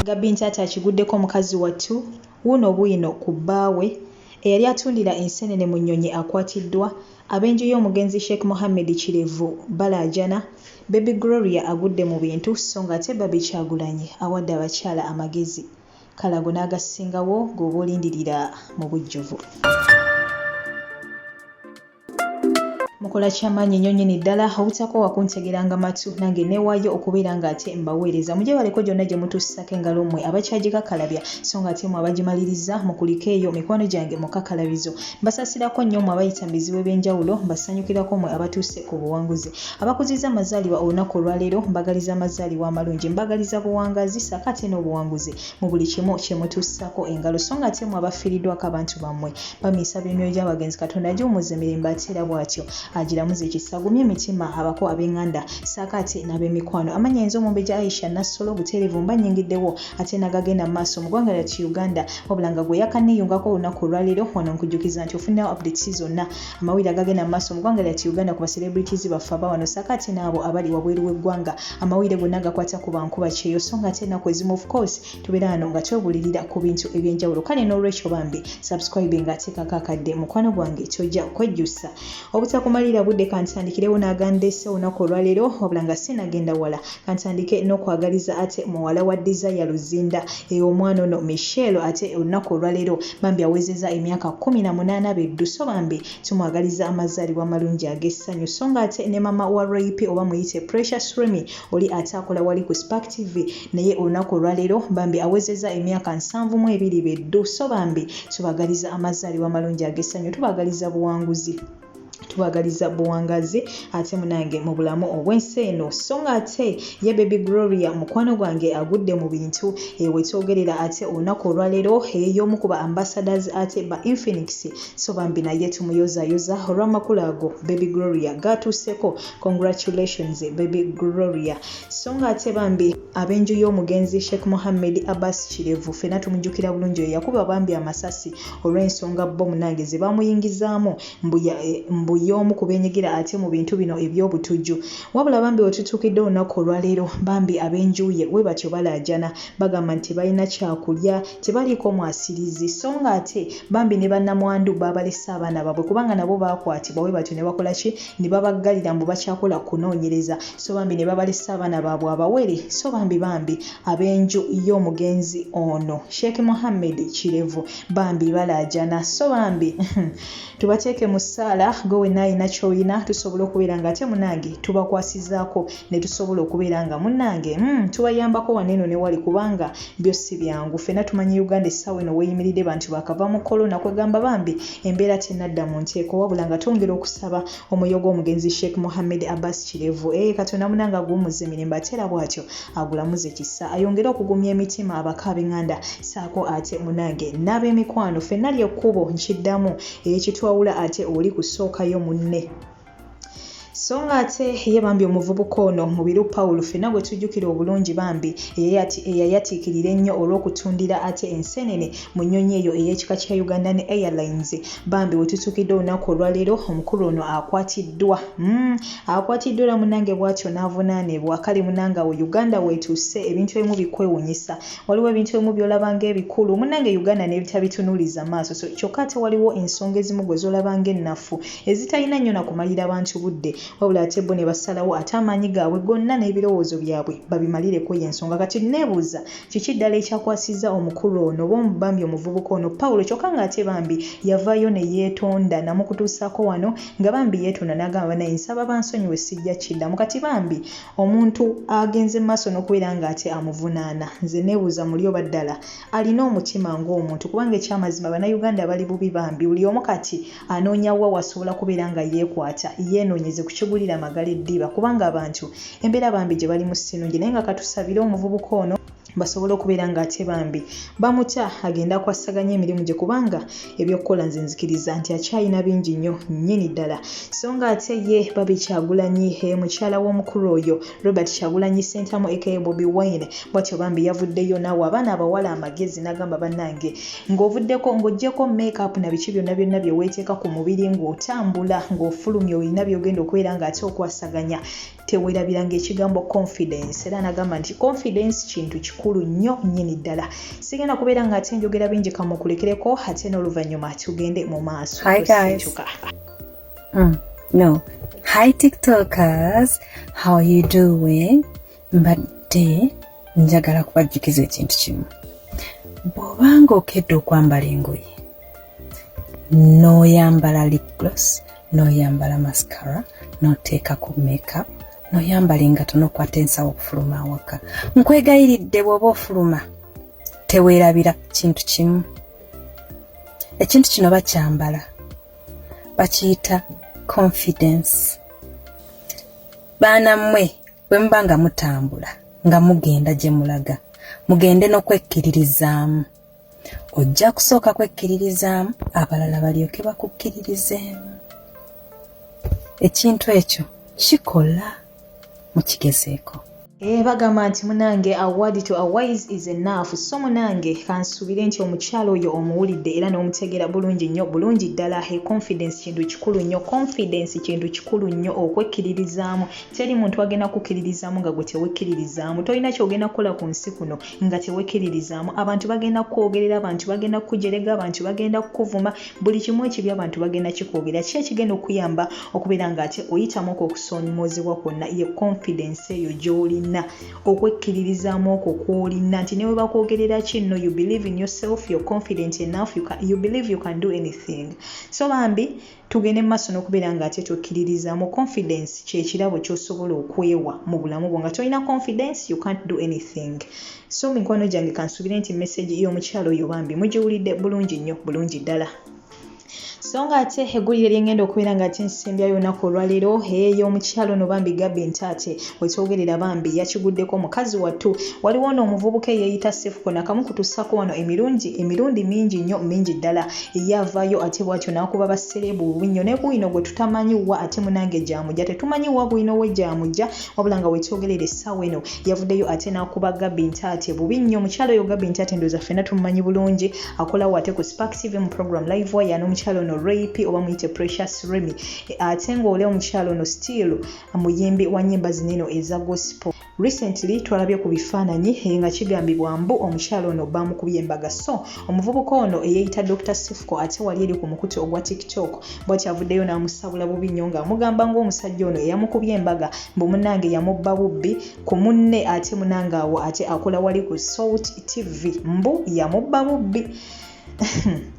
Gabby Ntaata akiguddeko mukazi wattu wuuno bwino ku bbaawe eyali atundira enseenene mu nnyonyi akwatiddwa, ab'enju y'omugenzi Sheikh Mohammed Kirevu balaajana, Baby Gloria agudde mu bintu sso ng'ate Barbie Kyagulanyi awadde abakyala amagezi. Kale ago n'agasingawo g'oba olindirira mu bujjuvu. Mukola kyamaanyi nnyo nnyini ddala obutakoowa kuntegeranga matu nange neewaayo okubeera ng'ate mbaweereza. Mugyebaleko gyonna gye mutuusisako engalo mmwe abakyagikakalabya so ng'ate mmwe abagimaliriza mukulike eyo mikwano gyange mu kakalabizo. Mbasaasirako nnyo mmwe abayita mu bizibu eby'enjawulo, mbasanyukirako mmwe abatuuse ku buwanguzi. abakuzizza amazaalibwa olunaku olwaleero mbagaliza amazaalibwa amalungi mbagaliza buwangazi saako ate n'obuwanguzi mu buli kimu kyemutuusaako engalo so nga ate mwe abafiiriddwako abantu bammwe bamiisa by'emyoyo gy'abagenzi katonda agiwumuza emirembe ate era bw'atyo agiramuza ekisa agumye emitima abako ab'enganda saako ate n'ab'emikwano amanya ayinza omumbejja aisha nassolo obuteerevu mba nyingiddewo ate n'agagenda mu maaso mu ggwanga lyaki uganda wabula nga gwe yakanneeyungako olunaku olwaleero wano nkujjukiza nti ofunirawo updates zonna Amawulire agagenda mu maaso mu ggwanga lyati Uganda ku ba celebrities baffe aba wano ssaako ate n'abo abali wabweru w'eggwanga. Amawulire gonna agakwata ku bankuba kyeyo so ng'ate ennaku ezimu of course tubeera wano nga twebulirira ku bintu eby'enjawulo kale n'olwekyo bambi subscribe nga ateekako akadde mukwano gwange kyojja kwejjusa. Obutakumalira budde kantandikirewo n'agandeese olunaku olwaleero wabula nga sinagenda wala. Kantandike n'okwagaliza ate muwala wa Desire Luzinda e omwana ono Michelle ate olunaku olwaleero bambi awezeza emyaka kkumi na munaana beddu so bambi tumwagaliza amazaalibwa amalungi ag'essanyu so nga ate ne mama wa Royp oba muyite Precious Remy oli ate akola wali ku Spark TV naye olunaku olwaleero bambi awezeza emyaka nsanvu mu ebiri beddu so bambi tubagaliza amazaalibwa amalungi ag'essanyu tubagaliza buwanguzi. tubagaliza buwangazi ate munange mu bulamu obw'ensi eno so nga ate ye baby gloria mukwano gwange agudde mu bintu ewetwogerera eh, ate olunaku olwaleero ey'omu eh, kuba ambassadors ate ba infinix so bambi naye tumuyozayoza olw'amakulu ago baby gloria gatuuseko congratulations baby gloria so nga ate bambi ab'enju y'omugenzi sheikh mohammed abbas kirevu fena tumujukira bulungi eyakuba bambi amasasi olw'ensonga bbo munange zebamuyingizaamu mbu ya mbu yoomu kubenyigira ate mubintu bino ebyobutujju wabula bambi wetutuukidde olunaku olwaleero bambi abenjuuye webatyo balaajana bagamba nti tebalina kyakulya tebaliiko mwasirizi so nga ate bambi ne banamwandu baabalese abaana babwe kubanga nabo baakwatibwa webatyo nebakolaki nebabaggalira mbu bakyakola kunoonyereza so bambi nebabalese abaana babwe abawere so bambi bambi ab'enju y'omugenzi ono sheikh muhammed kirevu bambi balaajana so bambi tubateeke mu ssaala gwe wenna alina kyoyina tusobola okubeera nga ate munange tubakwasizaako ne tusobola okubeera nga munange mm, tubayambako waneeno ne wali kubanga byo si byangu ffena tumanyi uganda essaawa eno weyimiridde bantu bakava mu kolona kwegamba bambi embeera tenadda mu nteeko wabula nga twongera okusaba omwoyo gw'omugenzi sheikh muhammed abbas kirevu eye eh, katonda munanga aguwumuze mirembe ate era bw'atyo agulamuze kisa ayongere okugumya emitima abaka ab'enganda saako ate munange n'ab'emikwano fenna ly'ekkubo nkiddamu eyekitwawula eh, ate oli kusookayo munne so nga ate ye bambi omuvubuka ono mubiru pawulo fena gwe tujjukira obulungi bambi eyayatiikirira ennyo olw'okutundira ate ensenene mu nnyonyi eyo ey'ekika kya ugandan airlines bambi wetutuukidde olunaku olwaleero omukulu ono akwatiddwa mm, akwatiddwa era munange bwatyo n'avunaanibwa kale munange awo uganda wetuuse ebintu ebimu bikwewunyisa waliwo ebintu ebimu byolaba ngaebikulu munange uganda nebitabitunuuliza maaso so kyokka ate waliwo ensonga ezimu gwe zolaba ngaennafu ezitalina nnyo nakumalira bantu budde wabula ate bo ne basalawo ate amaanyi gaabwe gonna n'ebirowoozo byabwe babimalireko yensonga kati neebuuza Kiki ddala ekyakwasizza omukulu ono oba bambi omuvubuka ono Pawulo kyokka ng'ate bambi yavaayo ne yeetonda namukutuusaako wano nga bambi yeetonda n'agamba banaye nsaba bansonyiwe sijja kiddamu kati bambi omuntu agenze mu maaso n'okubeera ng'ate amuvunaana nze neebuuza muli oba ddala alina omutima ng'omuntu kubanga ekyamazima bannayuganda bali bubi bambi buli omu kati anoonya wa wasobola kubeera nga yeekwata yeenoonyeze ku kigulira amagala eddiba kubanga abantu embeera bambi gye bali mu sinungi naye nga katusabire omuvubuka ono basobole okubeera nga ate bambi bamutya agenda kwassaganya emirimu gye kubanga ebyokukola nze nzikiriza nti akyalina bingi nnyo nnyini ddala so nga ate ye babikyagulanyi e mukyala w'omukulu oyo Robert Kyagulanyi Ssentamu aka Bobi Wine bwatyo bambi yavuddeyo naawe abaana abawala amagezi n'agamba bannange ng'ovuddeko ng'oggyeko makeup na biki byonna byonna bye weeteeka ku mubiri ng'otambula ng'ofulumya olina by'ogenda okubeera ng'ate okwasaganya tewerabira ng'ekigambo confidence era n'agamba nti confidence kintu kikulu nnyo nnyini ddala sigenda kubeera ng'ate njogera bingi kamukulekereko ate n'oluvannyuma tugende mu maaso Mm, no. Hi TikTokers, how you doing? Mbadde njagala kubajjukiza ekintu kimu. Bw'obanga okedde okwambala engoye n'oyambala lip gloss, n'oyambala mascara, n'oteekako makeup, n'oyambala engato n'okwata ensawo okufuluma awaka. Nkwegayiridde bw'oba ofuluma teweerabira kintu kimu. Ekintu kino bakyambala. bakiyita confidence baana mmwe bwe muba nga mutambula nga mugenda gye mulaga mugende n'okwekkiririzaamu ojja kusooka kwekkiririzaamu abalala balyoke bakukkiririzeemu ekintu ekyo kikola mukigezeeko Eh, bagamba nti munange award to awise is enough so munange kansubire nti omukyalo oyo omuwulidde era n'omutegeera bulungi nnyo bulungi ddala he confidence kintu kikulu nnyo confidence kintu kikulu nnyo okwekkiririzaamu teri muntu agenda kukkiririzaamu nga gwe tewekkiririzaamu tolina kyogenda kukola ku nsi kuno nga tewekiririzamu abantu bagenda kukwogerera abantu bagenda kukujerega abantu bagenda kukuvuma buli kimu ekibi abantu bagenda kikwogerera ki ekigenda okuyamba okubeera nga ate oyitamu okwo okusoomoozebwa kwonna ye confidence eyo gy'olina okwekkiririzaamu okwo kw'olina nti ne bwe bakwogerera ki no you believe in yourself your confident enough you, can, you believe you can do anything so bambi Tugende mu maaso n'okubeera nga ate twekkiririza mu confidence ky'ekirabo ky'osobola okwewa mu bulamu bwo nga tolina confidence you can't do anything so mikwano gyange kansuubire nti message y'omukyala oyo bambi mugiwulidde bulungi nnyo bulungi ddala so nga ate eggulire lyengenda okubeera nga ate nsembyayo olunaku olwaleero ey'omukyalo no bambi gabi ntaate wekyogerera bambi yakiguddeko mukazi wattu waliwo ono omuvubuka eyeeyita sefuko nakamu kutussako wano emirungi emirundi mingi nnyo mingi ddala ye avaayo ate bwatyo n'akuba bassereebu bubi nnyo ne bwino gwe tutamanyi wa ate munange gyamujja tetumanyi wa bwino we gyamujja wabula nga wekyogerera essaawa eno yavuddeyo ate n'akuba gabi ntaate bubi nnyo mukyalo oyo gabi ntaate ndooza ffena tumumanyi bulungi akolawo ate ku spark tv mu program live waya n'omukyalo ono rap oba muyite precious remy ate ng'ole omukyalo ono still muyimbi wa nyimba zineno eza gospel recently twalabye ku bifaananyi eh, nga kigambibwa mbu omukyalo ono bamukubye embaga so omuvubuka ono eyeyita dr sifco ate wali eri ku mukutu ogwa tiktok bwakyavuddeyo n'amusabula bubi nnyo ng'amugamba ng'omusajja ono eyamukubye embaga mbu munange yamubba bubbi ku munne ate munange awo ate akola wali ku salt tv mbu yamubba bubbi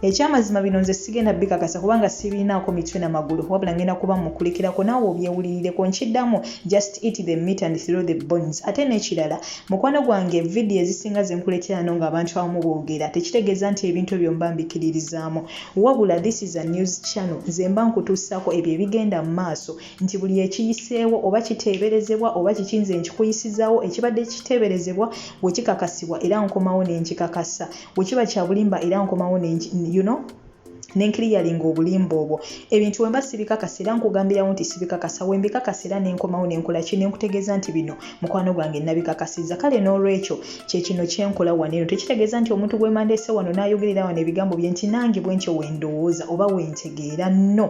ekyamazima bino nze sigenda bikakasa kubanga sibiinaako mitwe na magulu wabula ngenda kuba mukulikirako naawe obyewulirireko nkiddamu just eat the meat and throw the bones ate n'ekirala mukwano gwange vidiyo ezisinga zenkuleterano ng'abantu abamu boogera tekitegeeza nti ebintu ebyo mba mbikiririzaamu wabula this is a news channel nze mba nkutuusaako ebyo ebigenda mu maaso nti buli ekiyiseewo oba kiteeberezebwa oba kiki nze nkikuyisizaawo ekibadde kiteeberezebwa wekikakasibwa era nkomawo nenkikakasa bwe kiba kya bulimba era nkomawo you know nenkiriyalinga obulimba obwo ebintu wemba sibikakasa era nkugambirawo nti sibikakasa wembikakasa era nenkomawo nenkola ki nenkutegeeza nti bino mukwano gwange nabikakasiza kale n'olwekyo kyekino kyenkola wano eno tekitegeeza nti omuntu gwemandeese wano nayogerera wano ebigambo bye nti nange bwentyo wendowooza oba wentegeera no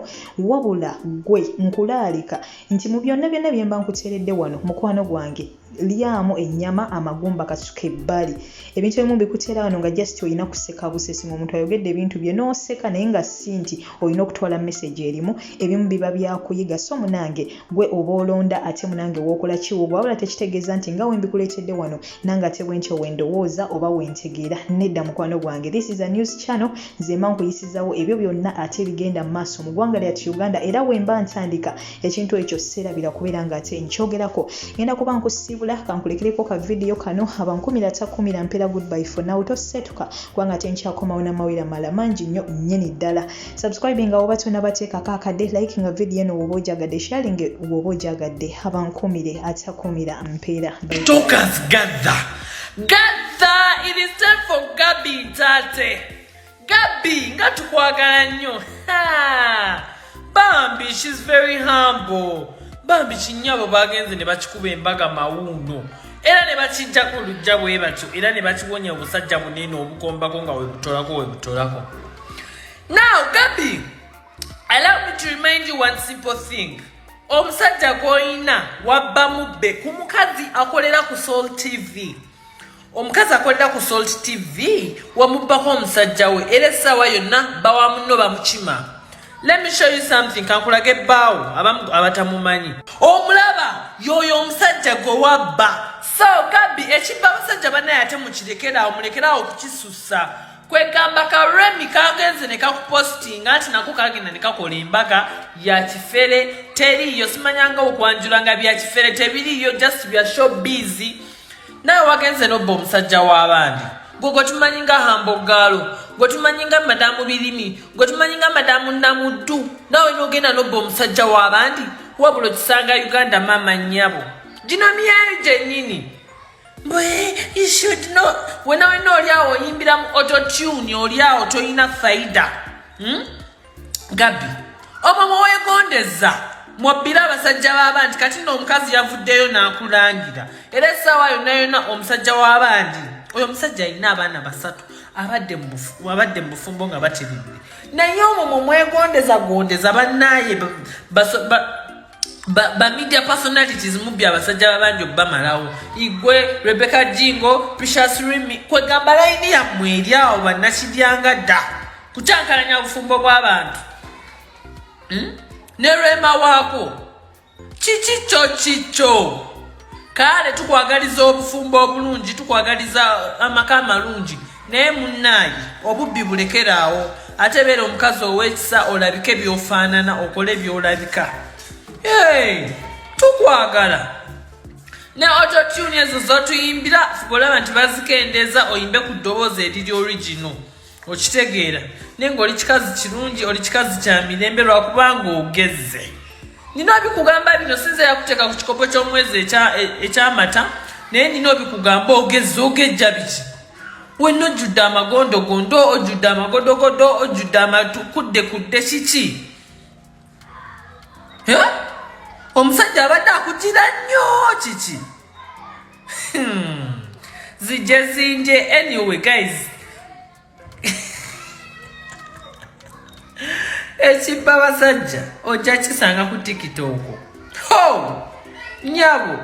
wabula gwe nkulaalika nti mu byonna byonna byemba nkuteeredde wano mukwano gwange lyamu ennyama amagumba kasuka ebbali ebintu ebimu bikuteera wano nga just olina kuseka busesi nga omuntu ayogedde ebintu bye n'oseka naye nga si nti olina okutwala message erimu ebimu biba byakuyiga so munange gwe oba olonda ate munange wookola kiwugu wabula tekitegeeza nti nga wembikuleetedde wano nange ate bwe ntyo wendowooza oba wentegeera nedda mukwano gwange this is a news channel nzemba nkuyisizawo ebyo byonna ate ebigenda mu maaso mu ggwanga lyatu uganda era wemba ntandika ekintu ekyo sirabira kubeera nga ate nkyogerako ngenda kuba nkusiibula kankulekereko ka vidiyo kano abankumira takumira mpeera goodbye for now tosetuka kubanga ate nkyakomawo namawira mala mangi nnyo nyini ddala subscribe nga woba tonabateekako akadde like nga vidiyo eno woba ojagadde sharing woba ojagadde abankumire atakumira mpeera Talkers gather. Gather! It is time for Gabby Tate. Gabby nga tukwagala nnyo bambi she's very humble bambi kinyabo bagenze ne bakikuba embaga mawuuno era ne bakijjako olujja bwe batyo era ne bakiwonya obusajja bunene obukombako nga webutolako webutolako now gabi allow me to remind you one simple thing omusajja gw'olina wabba mubbe ku mukazi akolera ku soul tv omukazi akolera ku salt tv wamubbako omusajja we era essaawa yonna bawa munno bamukima let me show you something kankulage bbaawo abamu abatamumanyi omulaba yoyo omusajja gwe wabba so kabi ekibba abasajja banaye ate mukirekeraawo mulekeraawo okukisussa kwegamba ka remi kagenze ne kakupostinga nti nako kagenda ne kakola embaga ya kifere teriiyo simanyangawo kwanjula nga bya kifere tebiriiyo just bya show busy nawe wagenze nobba omusajja w'abandi gwe gwe tumanyi nga hambogaalo gwe tumanyi nga madamu birimi gwe tumanyi nga madamu namuddu nawe nogenda nobba omusajja w'abandi wabula okisanga uganda maama nnyabo gino myayo gyennyini bwe you should know wena wena oli awo oyimbira mu ototune oli awo tolina faida hmm? gabbi obo bwewegondeza mwobbira abasajja b'abandi kati no omukazi yavuddeyo n'akulangira era essaawa yonna yonna omusajja w'abandi oyo omusajja alina abaana basatu abadde mu bufumbo nga bateredde naye omwo mwe mwegondeza gondeza bannaaye ba, ba media personalities mubbi abasajja babanja okubamalawo igwe rebecca jingo precious rimi kwegamba layini yammwe eri awo bannakibyanga dda kukyankalanya obufumbo bw'abantu hmm? ne rema waako kiki kyo kikyo kaale tukwagaliza obufumbo obulungi tukwagaliza amaka amalungi naye munnaayi obubbi bulekeraawo ate beera omukazi ow'ekisa olabike byofaanana okole byolabika tukwagala ne ototuni ezo zotuyimbira fuba olaba nti bazikendeeza oyimbe ku ddoboozi eriri origino okitegeera naye ngaoli kikazi kirungi oli kikazi kya mirembe lwakubanga ogezze nina obikugamba bino sinza yakuteeka ku kikopo ky'omwezi ekyamata e, naye nina obikugamba ogezze ogejja biki wenna ojjudde amagondogondo ojjudde amagodogodo ojjudde amatukudde kudde kiki omusajja abadde akugira nnyo kiki Hmm. Zije zinje anyway guys. Ekibba basajja ojja kisanga ku TikTok. Ho! Nyabo.